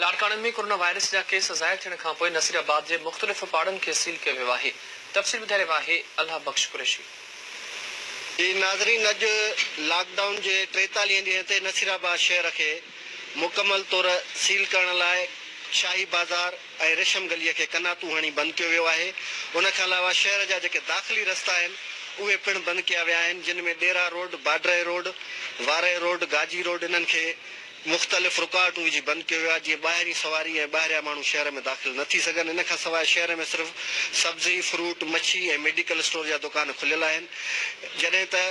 لاڙڪاڻي ۾ coronavirus جا case ظاهر ٿيڻ کانپوء نصيرآباد جي مختلف پاڙن کي سيل ڪيو ويو آهي تفصيل ٻڌائي رهيو آهي الله بخش قريشي. جي ناظرين اڄ لاڪ ڊائون جي ٽيتاليهين ڏينهن تي نصيرآباد شهر کي مڪمل طور سيل ڪرڻ لاء شاهي بازار ۽ ريشم گلي کي قناتون هڻي بند ڪيو ويو آهي ان کان علاوه شهر جا جيڪي داخلي رستا آهن اهي پڻ بند ڪيا ويا آهن جن ۾ ڏيرا روڊ باڊرهه road Warah road Ghazi road انهن کي مختلف رڪاوٽون وجهي بند ڪيو ويو آهي جيئن ٻاهرين سواري ۽ ٻاهريان ماڻهو شهر ۾ داخل نه ٿي سگهن ان کان سواء شهر ۾ صرف سبزي، فروٽ، مڇي ۽ ميڊيڪل اسٽور جا دڪان کليل آهن جڏهن ته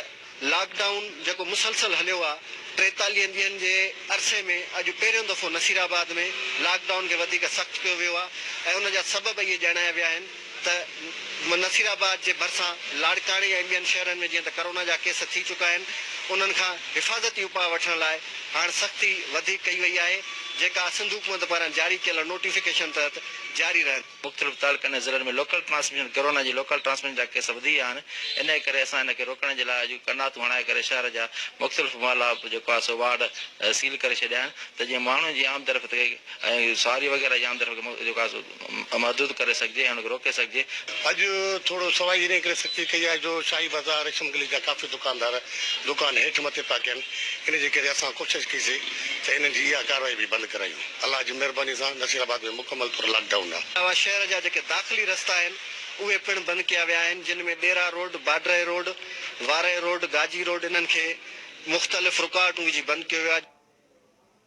لاڪ ڊائون جيڪو مسلسل هليو آهي ٽيتاليهن ڏينهن جي عرصي ۾ اڄ پهريون دفعو نصيرآباد ۾ لاڪ ڊائون کي وڌيڪ سخت ڪيو ويو آهي ۽ ان جا سبب اهي ڄاڻايا ويا آهن. ته نصير آباد جي ڀرسان لاڙڪاڻي ۽ ٻين شهرن ۾ جيئن ته ڪورونا جا ڪيس ٿي چڪا آهن انهن کان حفاظتي اپاء وٺڻ لاء هاڻ سختي وڌيڪ ڪئي وئي آهي جيڪا سنڌ حڪومت پاران جاري ڪيل نوٽيفڪيشن تحت جاري رهندي. مختلف تعلقن ۽ ضلعن ۾ لوڪل ٽرانسميشن ڪورونا جي لوڪل ٽرانسميشن جا ڪيس وڌي ويا آهن انهيء ڪري اسان ان کي روڪڻ جي لاء اڄ قرناطون هڻائي ڪري شهر جا مختلف محلا جيڪو آهي سو وارڊ سيل ڪري ڇڏيا آهن ته جيئن ماڻهن جي آمدرفت کي ۽ سواري وغيره جي آمدرفت کي جيڪو آهي سو محدود ڪري سگهجي ۽ ان کي روڪي سگهجي. اڄ ٿورو سوائي ان ڪري سختي ڪئي آهي جو شاهي بازار ريشم گلي جا ڪافي دڪاندار دڪان هيٺ مٿي پيا ڪن ان جي ڪري اسان ڪوشش ڪئي سي ته انهن جي اها ڪارروائي به بند ڪرايون الله جي مهرباني سان نصير آباد ۾ مڪمل طور لاڪ ڊائون آهي. علاوه شهر جا جيڪي داخلي رستا آهن اهي پڻ بند ڪيا ويا آهن جن ۾ ڏيرا روڊ، باڊرهه road, Warah road, Ghazi road انهن کي مختلف رڪاوٽون وجهي بند ڪيو ويو آهي.